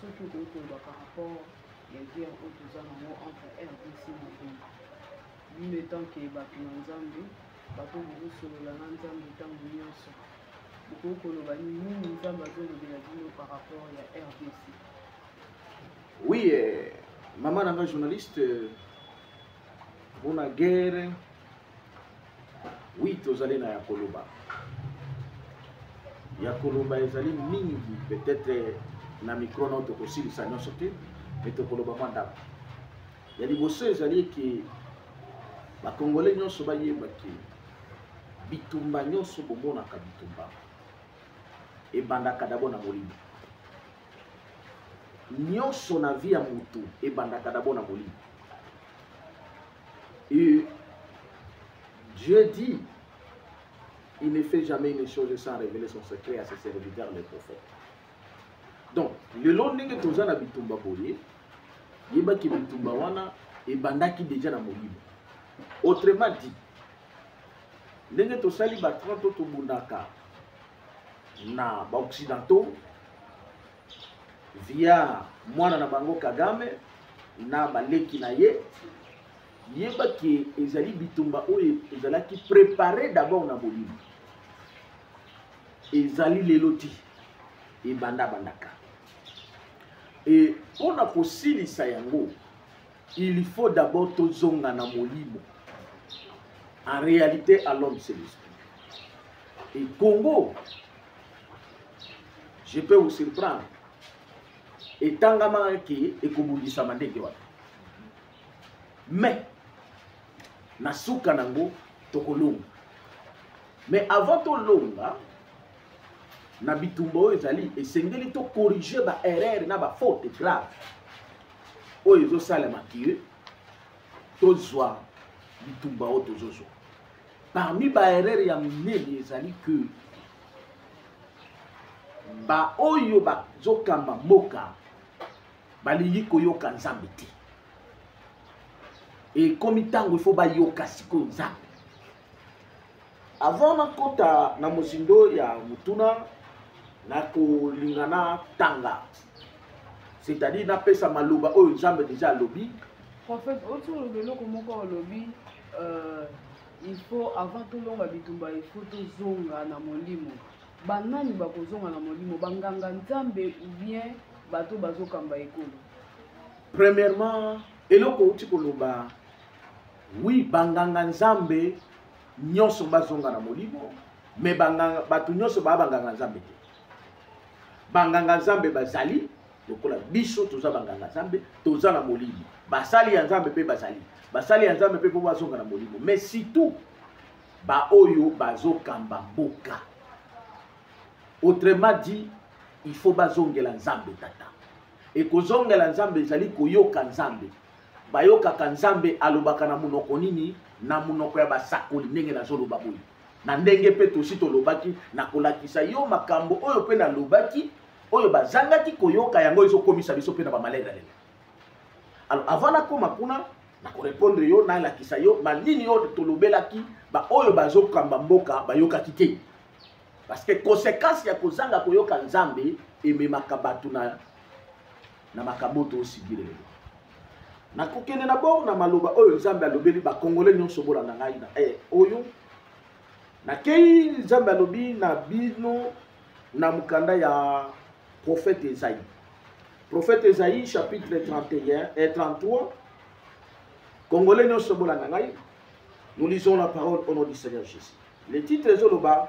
soki okoki koloba par rapport ya guerre oyo toza nango entre rdc na congo bino etant ke bato na nzambe bato bokosolola na nzambe ntango nyonso bokoki koloba nini nzambe azolobela bino par rapport ya rdc oui eh, mama na nga journaliste mpona eh, guerre wi tozali na ya koloba ya koloba ezali mingi peut-être na mikro nao tokosilisa nyonso te me tokoloba mwa ndako ya liboso ezali eke bakongole nyonso bayeba ke bitumba nyonso bomonaka bitumba ebandaka dabo na molimo nyonso na vi ya motu ebandaka dabo na molimo Et Dieu dit, il ne fait jamais une chose sans révéler son secret à ses serviteurs, les prophètes. Donc, le long de toza na bitumba boye, yeba ki bitumba wana ebandaki déjà na molimo. Autrement dit, ndenge tosali ba 30 tobundaka na baoccidentaux via mwana na bango kagame na baleki na ye yeba ke ezali bitumba oyo ezalaki prepare d'abord na bolimo ezali lelo ti ebandabandaka e mpo na kosilisa yango il faut d'abord tozonga na molimo en réalité à l'homme c'est l'esprit et congo je peux vous surprendre etangamaka ke ekobundisama ndenge wana mais na suka nango tokolonga mais avant tolonga na bitumba oyo ezali esengeli tokorige baerreur na bafaute grave oyo ezosalema ke tozwa bitumba oyo tozozwa parmi baerreur ya minene ezali ke baoyo bazokamba mboka balingi koyoka nzambe te ekomi ntango ifo bayoka sikoyo nzambe Avant nakota na mozindo ya motuna nakolinga na tanga c'est-à-dire napesa maloba oyo nzambe deja alobi prophète oti olobi eloko moko olobi euh, il faut avant tolonga bitumba il faut tozonga na molimo banani bakozonga na molimo banganga nzambe ou bien bato bazokamba ekolo premièrement eloko outi koloba Oui, banganga nzambe nyonso bazonga na molimo, mais banganga bato nyonso baa banganga nzambe te. Banganga nzambe bazali lokola biso toza banganga nzambe, toza na molimo. Basali ya nzambe mpe bazali. Basali ya nzambe mpe mpo bazonga na molimo, mais surtout baoyo bazokamba mboka. Autrement dit, il faut bazongela nzambe tata. Ekozongela nzambe ezali koyoka nzambe. bayokaka nzambe alobaka na monoko nini na monoko ya basakoli ndenge nazoloba boye na ndenge mpe tosi tolobaki na kolakisa yo makambo oyo mpe nalobaki oyo bazangaki koyoka yango ezokomisa biso mpe na bamalelalela alors avant nakoma kuna nakorepondre yo nalakisa yo banini oyo tolobelaki baoyo bazokamba mboka bayokaki te parce que conséquence ya kozanga koyoka nzambe ememaka bato na na makambo to osibile lelo na kokende na bor na maloba oyo nzambe alobeli bakongole nyonso bolanda ngai na e oyo nakei nzambe alobi na bino na mokanda ya profete ezai profete ezai chapitre 31 et 33 kongole nyonso bolanda ngai nous lisons la parole au nom du seigneur jésus le titre ezoloba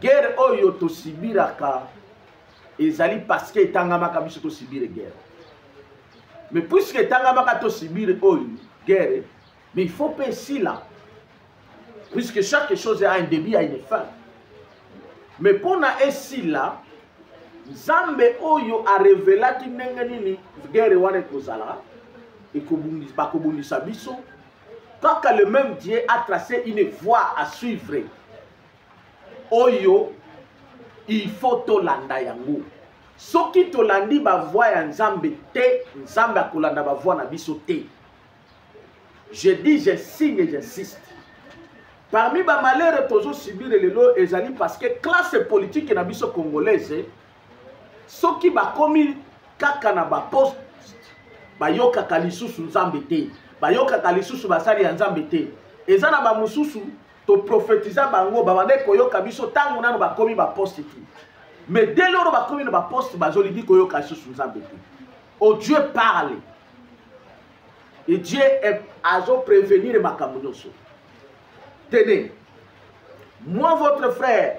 guerre oyo tosibiraka ezali parce que etangamaka biso tosibire guerre mais puisque etangamaka tosibire oyo guerre mais il faut mpe esila puisque chaque chose a un début a une fin mais mpona esila nzambe oyo arevelaki ndenge nini guerre wana ekozala bakobundisa biso kaka le même dieu a tracé une voie à suivre oyo il faut tolanda yango soki tolandi bavoi ya nzambe te nzambe akolanda bavoi na biso te je dis je signe et j'insiste parmi bamalere tozosubire lelo ezali parce que classe politique na biso congolaise soki bakomi kaka na baposte bayokaka lisusu nzambe te bayokaka lisusu basali ya nzambe te eza na bamosusu toprofetiza bango babandaki koyoka biso ntango nano bakomi baposte te mais dès loro bakomi na baposte bazolingi koyoka lisusu nzambe te o oh, dieu parle e dieu azoprevenir makambo nyonso tene moi votre frère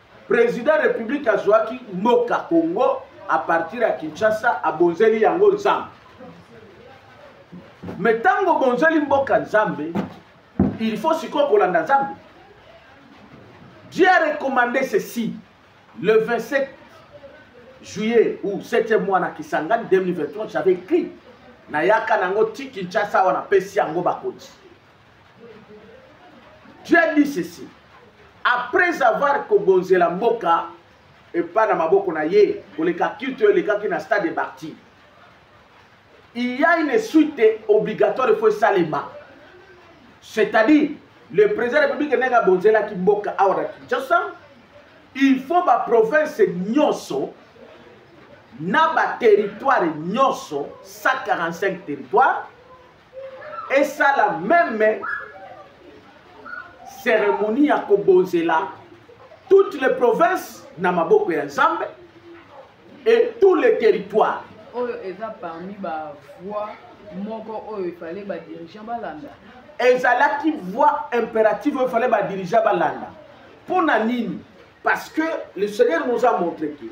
president republique azwaki mboka congo a partir ya kinshasa abonzeli yango nzambe me ntango obonzeli mboka nzambe il faut sikoyo kolanda nzambe dieu a recommandé ceci le 27 juillet ou 7e mois na kisangani 2023 j'avais écrit nayaka nango ti kinshasa awa napesi yango bakonzi tu as dit ceci après avoir kobonzela mboka epa na maboko na ye koleka culte oyo elekaki na stade de barti il y a une suite obligatoire efo esalema c'est-à-dire le président de la république ndenge abonzelaki mboka awa na kinshasa il faut baprovince nyonso na baterritware nyonso 145 territoire esala meme cérémonie ya kobonzela toutes les provinces na maboko ya nzambe et tous les territoires oyo eza parmi bavoi moko oyo efale badirigeant balanda ezalaki voi impérative oyo efale badirigeant balanda mpo na nini parce que le seigneur nous a montre que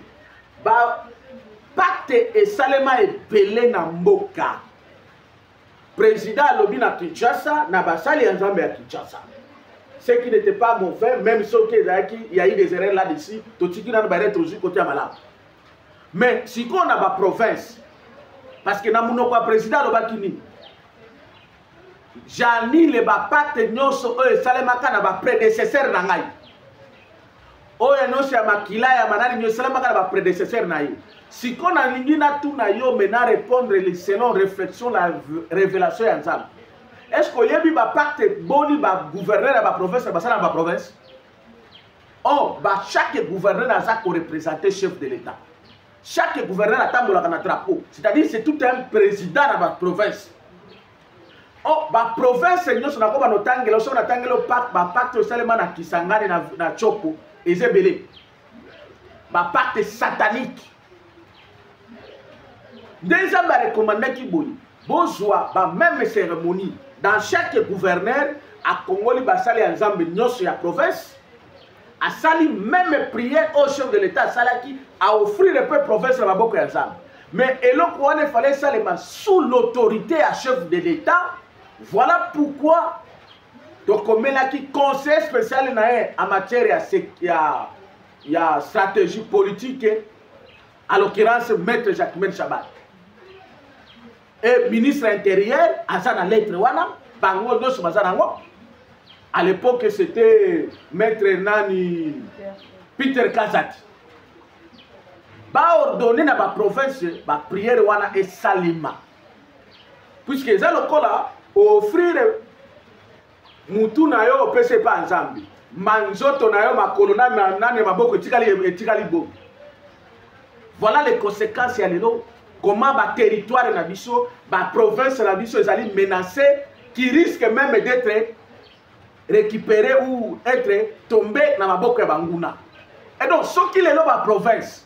bapacte esalema ebele na mboka Président alobi na Kinshasa na basali ya Nzambe ya Kinshasa. Ce qui n'était pas mauvais, même si okay, il y a eu des erreurs là-dessus, totiki na barret aux yeux côté malade. Mais si qu'on a ba province, parce que na munoko ya président alobaki nini? J'annule ba pacte nyonso oyo esalemaka na ba prédécesseurs na ngai. oyo nyonso ya makila ya banani nyo esalamaka na bapredecesseur na ye siko nalingi natuna yo me na répondre selon réflexion la révélation ya nzambe est ce que oyebi bapacte boni bagouverneur ya baprovince basala na baprovince o oh, bachaque gouverneur aza korepresente chef de l'état chaque gouverneur atambolaka na drapeau c'est à dire c'est tout un président na baprovince oh, baprovince nyonso nakoba notangela soki natangeli bapacte esalema na kisangani na, na chopo eza ebele bapacte satanique nde nzambe arekomandaki boye bozwa bameme cérémonie dans chaque gouverneur akongoli basali ya nzambe nyonso ya province asali meme prière au chef de l'état asalaki a offrir mpe province na maboko ya nzambe mais eloko wana efale esalema sous l'autorité ya chef de l'état voilà pourquoi tokomelaki conseil spécial na ye en matière ya, ya, ya stratégie politique à l'occurrence maître jacquemaine chabat e ministre ya interieur aza na lettre wana bango nyonso baza nango à l'époque c'était maître nani peter kazati baordonne na baprovince bapriere wana esalema puiske eza lokola offrire mutu na yo opesi epa ya nzambe manzoto na yo makolo nani ya maboko etikali etikali bomi voilà les conséquences ya lelo comment baterritoire na biso baprovince na biso ezali menacé qui risque même d'être récupéré ou être tombé na maboko ya banguna et donc soki lelo baprovince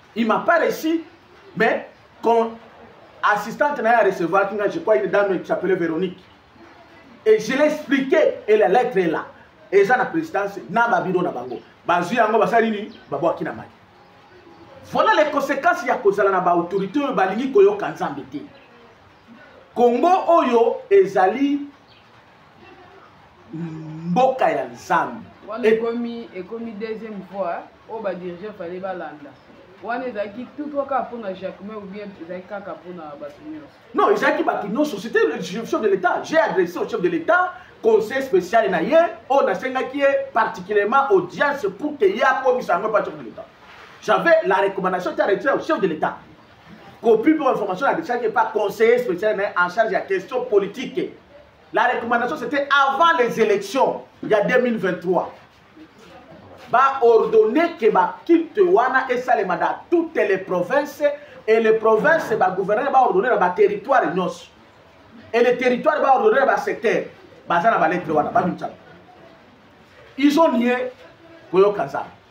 il m'a pas reçu mais quand assistante na ye a recevoir kinga je crois une dame qui s'appelait véronique et je l'ai expliqué et la lettre est là eza na présidence na babiro na bango bazwi yango basali nini babwaki na mai voilà les conséquences ya kozala na baautorité oyo balingi koyoka nzambe te kongo oyo ezali mboka ya nzambe wana ekomi ekomi deuxième voie oyo badirige fale balanda wana ezalaki tout toi kaka mpona jacquemain ou bien ezalaki kaka mpona bato nyonso non ezalaki bato nyonso c'était le chef de l'état j'ai adressé au chef de l'état conseil spécial na ye oyo nasengaki ye particulièrement audience pour que ye akomisa yango epa chef de l'état j'avais la recommandation ta retiré au chef de l'état Copie pour information, la décharge n'est pas conseiller spécial, mais en charge de la question politique. La recommandation, c'était avant les élections, il y a 2023. va ordonner que ba culte wana esalema dans toutes les provinces et les provinces ba gouverneur ba ordonner na ba territoire nyonso et les territoires ba ordonner ba secteur baza na ba lettre wana ba mitsa ils ont nié koyoka nzambe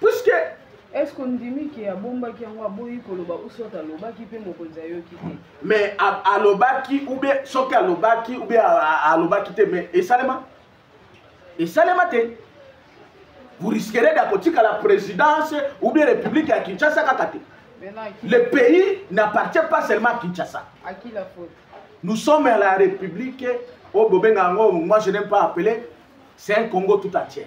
puiske eske ondimi ke abombaki yango aboyi koloba usot alobaki mpe mokonzi ayoki te mais alobaki ube soki alobaki ube alobaki te mais esalema esalema te vous risquerez ya kotikala présidence ou bien république ya kinshasa kaka te le pays n'appartient pas seulement à kinshasa à qui la faute nous sommes à la république oyo bobenga yango moi je n'aime pas appeler c'est un congo tout entier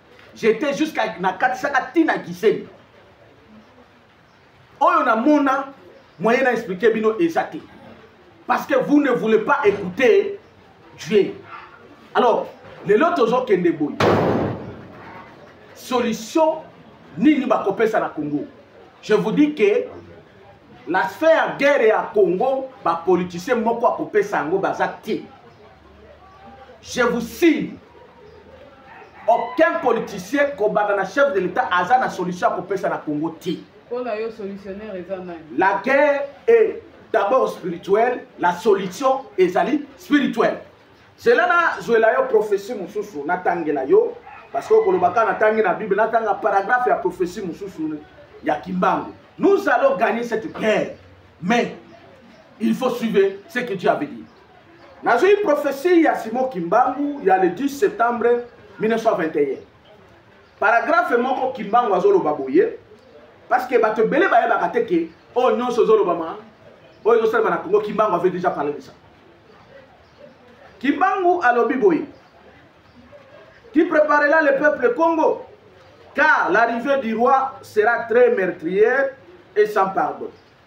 j'étais jusqu'à nakatisaka ti na giseni oyo namona moyen na explike bino eza te parce que vous ne voulez pas écouter dieu alors lelo tozokende boye solution nini bakopesa na congo je vous dis que la sphère guerre ya congo bapoliticien moko akopesa yango baza te je vous signe aucun politicien kobanda na chef de l'état aza na solution ya kopesa na congo te la guerre est d'abord spirituelle la solution ezali spirituelle zela nazwela yo prophetie mosusu natangela yo parce que okolobaka natangi na bible natanga paragraphe ya prophetie mosusu ya kimbangu nous allons gagner cette guerre mais il faut suivre ce que dieu avait dit nazwi prophesie ya simo kimbangu ya le 10 septembre 1921 paragrafe moko kimbangu azoloba boye parce que bato ebele bayebaka te ke oyo oh, nyonso ezolobama oyo ezosalema na congo kimbangu avait déjà parle de ça kimbangu alobi boye qui préparera le peuple congo car l'arrivée du roi sera très meurtrière et sans pardon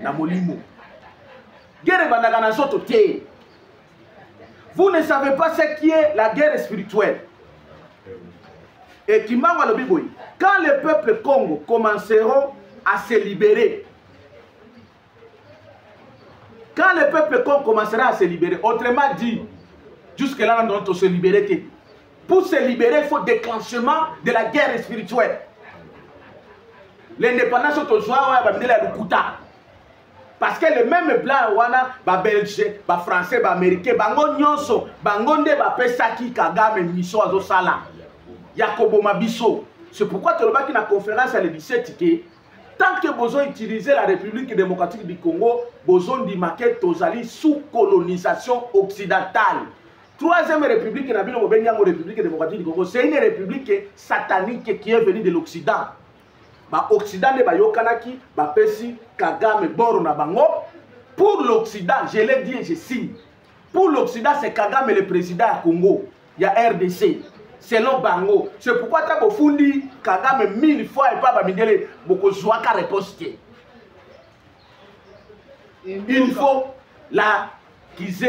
na molimo guerre ebandaka na nzoto te vous ne savez pas ce qui est la guerre spirituelle et kimbango alobi boye quand les peuples congo commenceront à se libérer quand les peuples congo commencera à se libérer autrement dit jusque là nandona tose libere te Pour se libérer, il faut déclenchement de la guerre spirituelle. L'indépendance au Tozoa, il y a Lukuta. Parce que le même blanc, wana, ba belge, ba français, ba américain, bango nyonso, bango nde ba pesaki Kagame miso azo sala. Yakobo Mabiso. C'est pourquoi tu as la conférence à l'Élysée, tant que bozo utiliser la République démocratique du Congo, bozo ndimake tozali sous colonisation occidentale. Troisième république na bino bobengi yango république démocratique du Congo c'est une république satanique qui est venue de l'Occident ba Occident nde bayokanaki bapesi Kagame boro na bango pour l'Occident je l'ai dit et je signe pour l'Occident c'est Kagame le président ya Congo ya RDC selon bango c'est pourquoi ata bofundi Kagame mille fois epa bamindele bokozwaka réponse te il faut la kize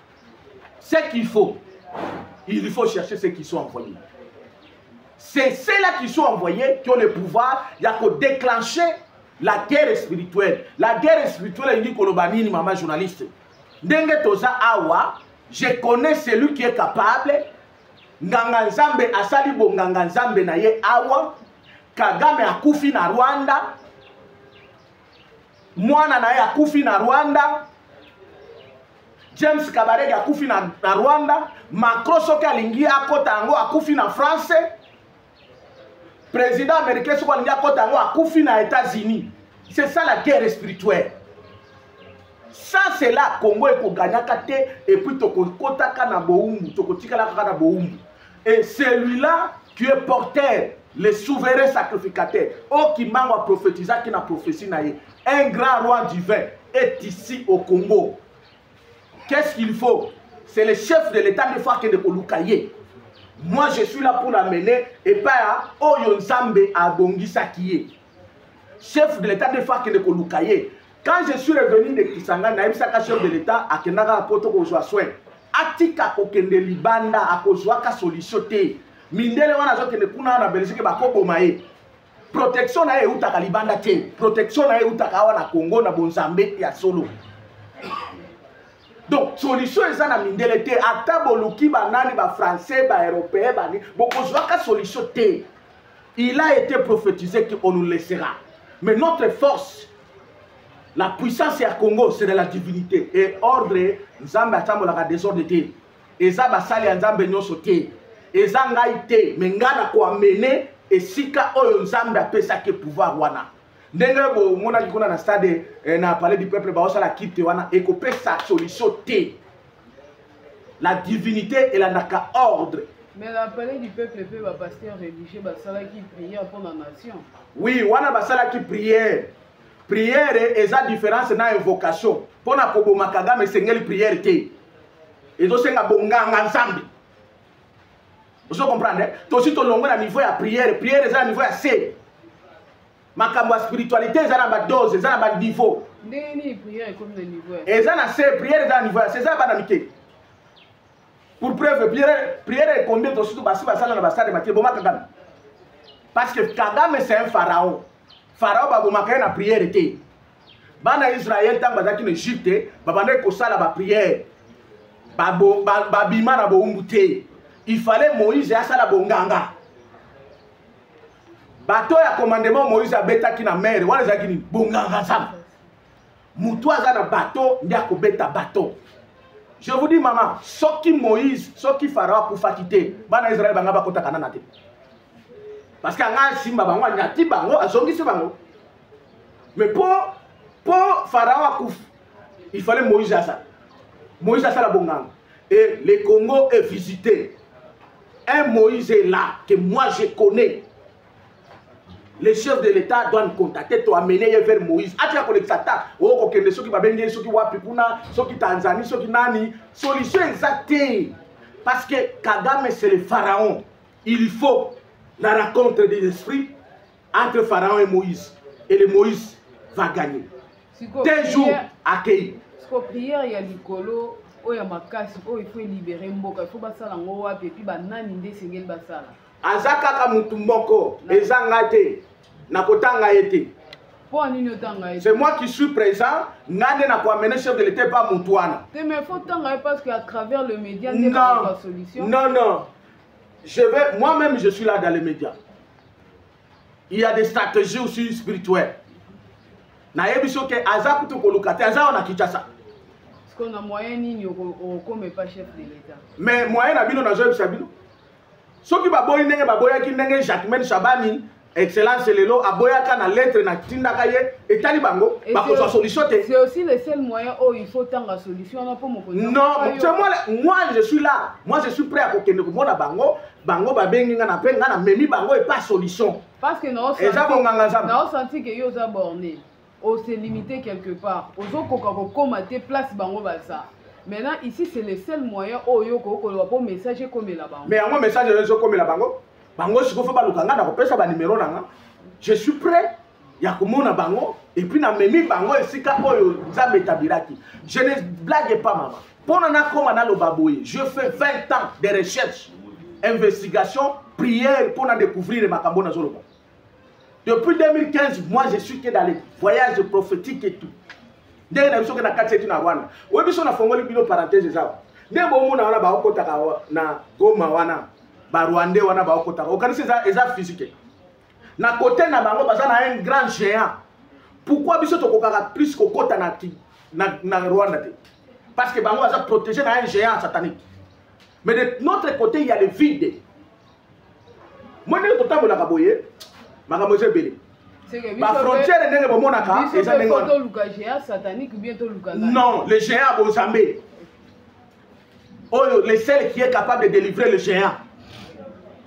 ce qu'il faut il faut chercher ceux qui sont envoyés c'est ceux-là qui sont envoyés qui ont le pouvoir ya kodéclencher la guerre spirituelle la guerre spirituelle elingi koloba nini mama journaliste ndenge toza awa je connais celui qui est capable nganga nzambe asali bonganga nzambe na ye awa kagame akufi na rwanda mwana na ye akufi na rwanda james kabarege akufi na, na rwanda macron soki alingi akota yango akufi na france président américain soki alingi akota yango akufi na états-unis c'est ça la guerre spirituelle ça c'est là congo ekogagnaka te epuis tokokotaka na bowumbu tokotikalaka kaka na bowumbu et celui là tu es porteur le souverain sacrificateur oyo oh, kimbango aprophétisaki na prophétie na ye un grand roi divin est ici au congo qu'est ce qu'il faut c'est le chef de l'état de fois akende koluka ye moi je suis là pour l'amener epai ya oyo nzambe abongisaki ye chef de l'État de fois akende koluka ye quand je suis revenu de Kisangani nayebisaka chef de l'État akendaka na poto kozwa soin atika kokende libanda akozwaka solution te mindele wana azokende kuna na belgique bakoboma ye protection na ye eutaka libanda te protection na ye eutaka awa na congo na bonzambe ya solo donc solution eza na mindele te ata boluki banani bafrançais baeuropéen bani bokozwaka solution te Il a été prophétisé qu'on nous laissera. Mais notre force, la puissance ya Congo, c'est de la divinité. Et ordre, Nzambe atambolaka désordre te. Eza basali ya Nzambe nyonso te. Eza ngai te, mais ngai na koamene esika oyo Nzambe apesaki pouvoir wana. ndenge bomonaki kuna na stade eh, na palais du peuple baosala kite wana ekopesa solution te la divinité elandaka ordre Mais la palais du peuple pe ba pasteur religieux basalaki prière pour la nation. Oui, wana basalaki prière. Prière eza différence na invocation. Pona koboma Kagame esengeli prière te. Ezosenga bonganga nzambe. Ozo comprendre? Tosi tolongwe na niveau ya prière. Prière eza na niveau ya se. makambo ya spiritualité eza na badose eza na baniveau ndenge nini prière ekomi na niveau eza na se prière eza na niveau ya se eza bana mike pour preuve prière prière ekomi to surtout basi basala na basade maki boma kagame parce que kagame c'est un pharaon pharaon babomaka ye na prière te bana israel ntango bazalaki na egypte babandaki kosala baprière babima na bowumbu te il fallait moïse asala bonganga bato ya commandement moïse abetaki na mere wana ezalaki nini bonganga nzambe motu aza na bato nde akobeta bato je vous dis mama soki moïse soki farao akufaki te bana israele banga bakotaka nana te parce que anga asimba bango anyati bango azongisi bango mais mpo mpo farao akufa il fallait moïse asala moïse asala bonganga et le congo est visité un moïse est là que moi je connais le chef de l'état doit contacter to amener ye vers moïse atika kolekisa ta okokende soki babengi ye soki wapi kuna soki tanzanie soki nani solution eza te parce que kagame c'est le pharaon il faut la rencontre des esprits entre pharaon et moïse et le moïse va gagner te jour akei siko prière ya likolo oyo ya makasi oyo il faut elibere mboka il faut basala yango wapi epuis banani nde esengeli basala aza kaka motu moko eza ngai te nakotanga ye te mpo nini otanga ye c'est moi qui suis présent nga nde nakoamene chef de l'état epa motu wana te mais faut tanga ye parce que à travers le média nde solution non non je vais moi même je suis là dans les médias il y a des stratégies aussi spirituelles nayebi soki aza kutu koluka te aza wana kinshasa na moyen nini okoma epa chef de l'état mais moyen na bino nazoyebisa bino soki baboyi ndenge baboyaki ndenge jacquemaine shabani excellence lelo aboyaka na lettre na tindaka ye etali bango bakozwa solution te c'est aussi le seul moyen oyo oh, il faut tanga solution wana mpo mokonzi non c'est moi moi je suis là moi je suis prêt à kokende komona bango bango babengi nga na mpe nga na memi bango epa solution parce que eza bonganga nzambe naosanti ke yo oza borne o se limiter quelque part ozokoka kokoma te place bango baza maintenant ici c'est le seul moyen oyo okoki koloba mpo message ekomela bango mais yango message oyo ezokomela bango bango sikoyo fo baluka ngai nakopesa banimero na nga je suis prêt ya komona bango epuis namemi bango esika oyo nzambe etabiraki je ne blague pas mama mpona nakoma naloba boye je fais 20 ans de recherche investigation prière mpona découvrir makambo nazoloba Depuis 2015, moi je suis que dans les voyages prophétiques et tout. ndenge na biso ke na kati etu na rwanda oyo biso nafongoli bino parenthèse eza nde bomona wana baokotaka na goma wana barwandais wana baokotaka okanisi eza, eza physique na kote na bango baza na un grand géant pourquoi biso tokokaka plus kokota na, na, na rwanda te parce que bango baza protégé na un géant satanique mais de notre côté il y a le vide moi ndenge totambolaka boye makambo eza ebele bafrontiere ndenge bomonaka eza ndenge non le géant ya bozambe oyo le seul qui est capable de délivrer le géant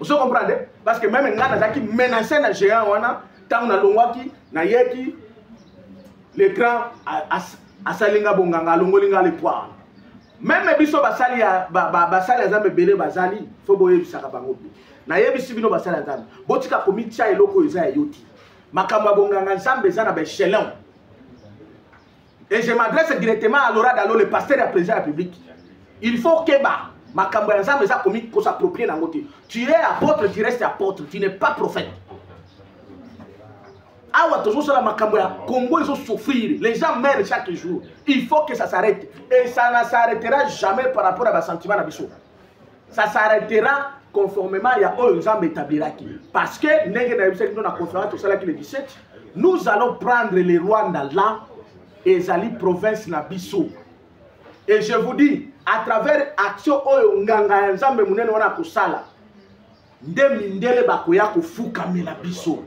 ozo comprendre eh? parce que meme ngai nazalaki menace na géant wana ntango nalongwaki nayeki le grand asali nga bonganga alongoli nga lepoire meme biso basali ya ba, ba, basali ya nzambe ebele bazali fo boyebisaka bango mpe nayebisi bino basali ya nzambe botika komitya eloko oyo eza ya yo ti makambo ya bonganga nzambe eza na baechelon et je m'adresse directement à laura dalo le pasteur ya président ya publique il faut keba makambo ya nzambe eza komi kosapproprie na yango te tu es apôtre tu reste apôtre tu n'es pas prophète awa tozosala makambo ya congo ezosouffrir les gens meurent chaque jour il faut que ça s'arrête et ça ne s'arrêtera jamais par rapport à basentiment na biso ça s'arrêtera conformément ya oyo nzambe établiraki parce que ndenge nayebisaki bino na conférence tosalaki le 17 nous allons prendre le rwanda là ezali province na biso et je vous dis à travers action oyo nganga ya nzambe monene wana akosala nde mindele bakoya kofukamela biso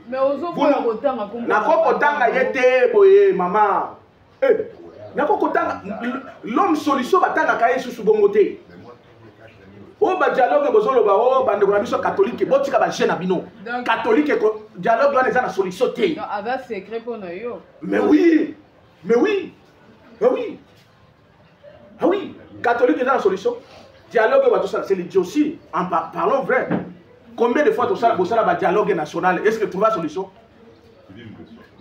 nako kotanga ye te boye mama eh, nako kotanga l'homme solution batangaka ye susu bongo te oyo oh, badialogue bozoloba o oh, bandeko na biso katolike botika baje na bino katolike dialogue wana eza na solution te mais oui mais oui mais oui ah oui catholique eza na solution dialogue oyo batosala c'est l'idiotie en par, parlons vrai combien de fois tosala bosala badialogue national est ce que trouva solution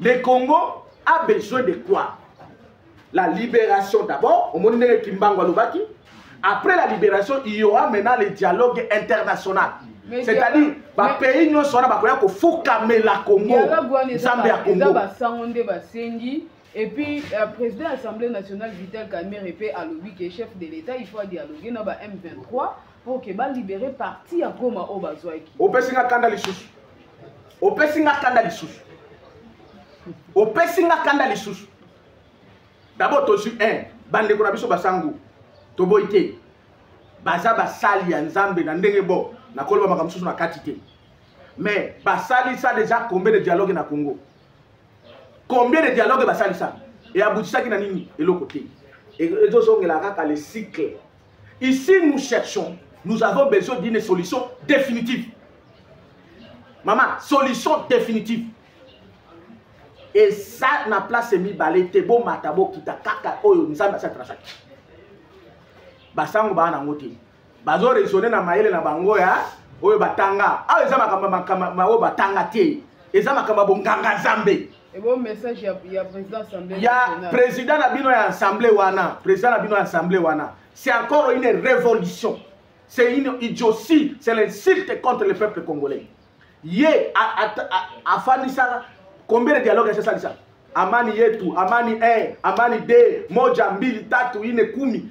le congo a besoin de quoi la libération d'abord omoni ndenge kimbango alobaki après la libération il y aura maintenant le dialogue international c'est-à-dire bapays nyonso wana bakoya kofukamela congo nzambe ya congo Et puis, euh, président de l'Assemblée nationale, Vital Kamerhe, et a lobby qui est chef de l'État, il faut dialoguer dans la M23 pour que va libérer parti à Goma au Bazouaki. Au Pessinga Kanda Lissous. Au Pessinga Kanda Lissous. Au Pessinga Kanda Lissous. D'abord, tu suis un. Bande Konabiso Basangu. Toboite. Baza Basali ya Nzambe na ndenge bo. Na koloba makambo susu na kati te. Mais basali ça déjà combien de dialogue na Congo? combien de dialogue basalisa e abutisaki na nini eloko te ezozongela kaka le cycle ici nous cherchons nous avons besoin d'une solution définitive mama solution définitive eza na place mibale te bomata bokita kaka oyo nzambe asali trasaki basango baa nango te bazo raisonner na mayele na bango ya oyo batanga awa eza makambo makambo oyo batanga te eza makambo ya bonganga nzambe ya président na bino ya assemblée wana président na bino ya assemblée wana c'est encore une révolution c'est une idiotie c'est l'insulte contre le peuple congolais ye afandisaka combien de dialogue asalisa amani yetu amani 1 amani 2 moja mbili tatu ine kumi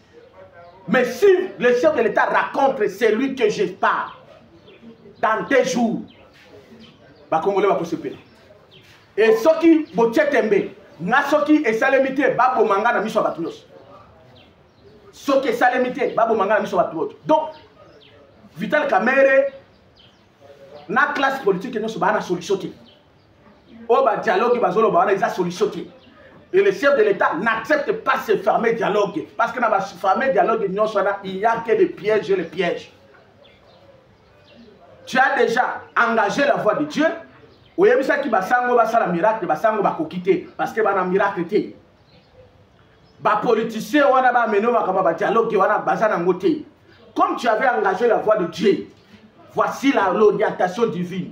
Mais si le chef de l'État raconte celui que je parle, dans deux jours, ba Congolais va se payer. Et ce qui botie tembe, na ce qui est salemité, ba bomanga na miso à batunos. Ce qui est salemité, ba bomanga na miso à batunos. Donc, Vital Kamere, na classe politique, nous sommes à la solution. oyo ba dialogue bazoloba wana eza solution te et le chef de l'état n'accepte pas ce fameux dialogue parce que na ba fameux dialogue nyonso wana il y a que des pièges et les pièges tu as déjà engagé la voix de dieu oyebisaki basango basala miracle basango bakoki te parce que bana miracle te bapoliticien wana bamene makambo ya badialogue wana baza nango te comme tu avais engagé la voix de dieu voici l'orientation divine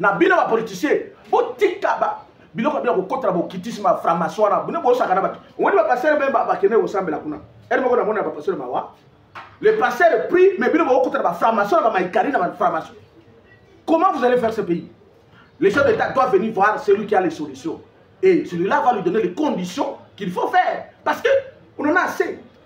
na bino ba politicien botika ba biloko bino kokotela bokitisme ya franc-maçon wana bino bosaka na bato omoni bapastere mpe bakende kosambela kuna ete moko namona ya bapastere mawa le pasteur prie mais bino bokokota na bafranc-maçon na bamaikari na bafranc-maçon comment vous allez faire ce pays le chef d'état doit venir voir celui qui a les solutions et celui-là va lui donner les conditions qu'il faut faire parce que on en a assez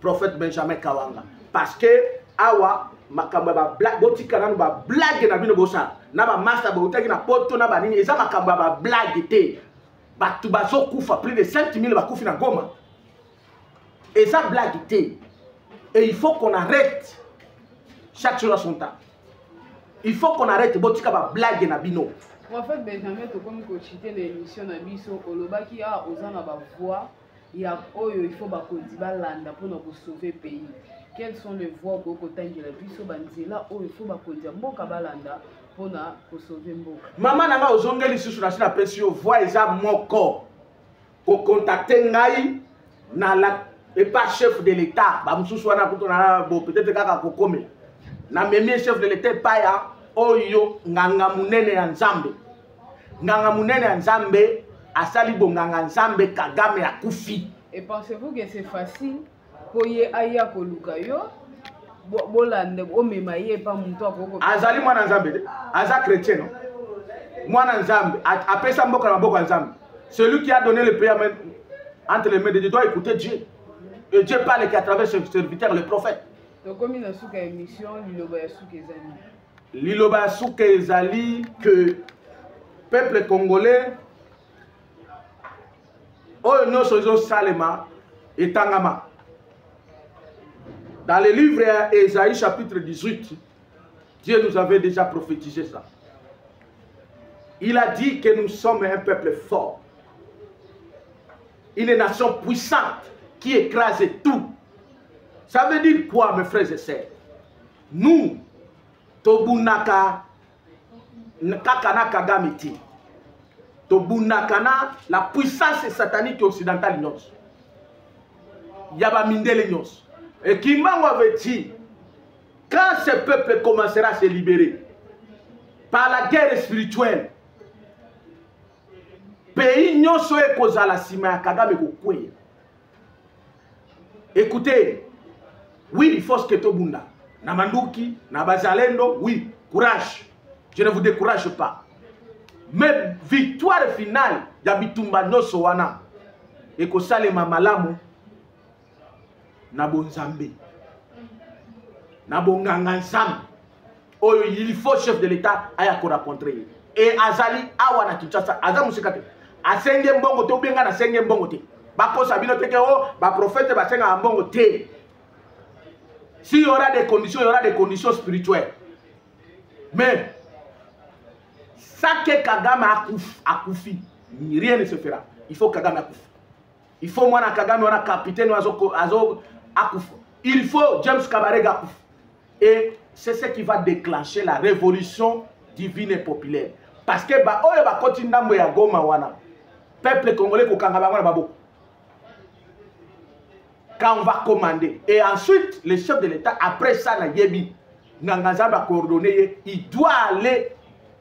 prophète benjamin kawanga parce que awa makambo ya bablague botika nano bablague na bino bosala na bamasta boutaki na poto na banini eza makambo ya bablague te bato bazokufa plus de 5000 bakufi na goma eza blague te et il faut qu'on arrête chaque chose à son temps il faut qu'on arrête botika bablague na bino prophète benjamin tokomi kocite na émission na biso olobaki awa ah, oza na bavoix ya oyo il faut bakonzi balanda mpona kosauve pays quelles sont les voies okoki kotangela biso banzela oyo il faut bakonzi ya mboka balanda mpona kosauve mboka mama na ngai ozongeli lisusu nasi napesi yo voi eza moko kokontakte ngai na la epa chef de l'état bamosusu wana kutu na bo peut-être kaka kokomela namemi chef de l'état epai ya oyo nganga monene ya nzambe nganga monene ya nzambe asali bonganga nzambe kagame akufi et pensez-vous que c'est facile mpo ye aya koluka yo bolande omema ye epa moto akoko azali mwana nzambe te aza chrétien no mwana nzambe apesa mboka na maboko ya nzambe celui qui a donné le pays entre les mains de dieu doit écouter dieu et dieu parle qui à travers ce serviteur le prophète tokomi na suka ya émission liloba ya suka ezali liloba ya suka ezali que peuple congolais oyo nyonso ezosalema etangama dans le livre ya esaïe chapitre 18 dieu nous avait déjà prophétisé ça il a dit que nous sommes un peuple fort une nation puissante qui écrase tout ça veut dire quoi mes frères et sœurs nous tobunaka kaka na kagame te tobundaka na la puissance satanique occidentale nyonso ya bamindele nyonso e kimbangu avait dit quand ce peuple commencera à se libérer par la guerre spirituelle pays nyonso ekozala nsima ya kagame kokweya écoutez oui il faut que tobunda na manduki na bazalendo oui courage je ne vous décourage pas mais victoire finale ya bitumba nyonso wana ekosalema malamu na bonzambe na bonganga nzambe oyo il faut chef de l'état aya ko rencontrer ye e azali awa na kinshasa aza mosika te asenge mbongo te obenga na senge mbongo te bakosa bino teke o oh, baprofete basengaka mbongo te si y aura des conditions y aura des conditions spirituelles mais sake kagame akufi rien ne se fera il faut kagame akufi il faut mwana kagame wana capitaine oyo azo, azo akufa il faut james kabarega akufa et c'est ce qui va déclencher la révolution divine et populaire parce que baoyo bakoti ndambo ya goma wana peuple congolais kokanga bango na baboko quand on va commander et ensuite le chef de l'état après ça na yebi nganganzambe akoordonne ye il doit aller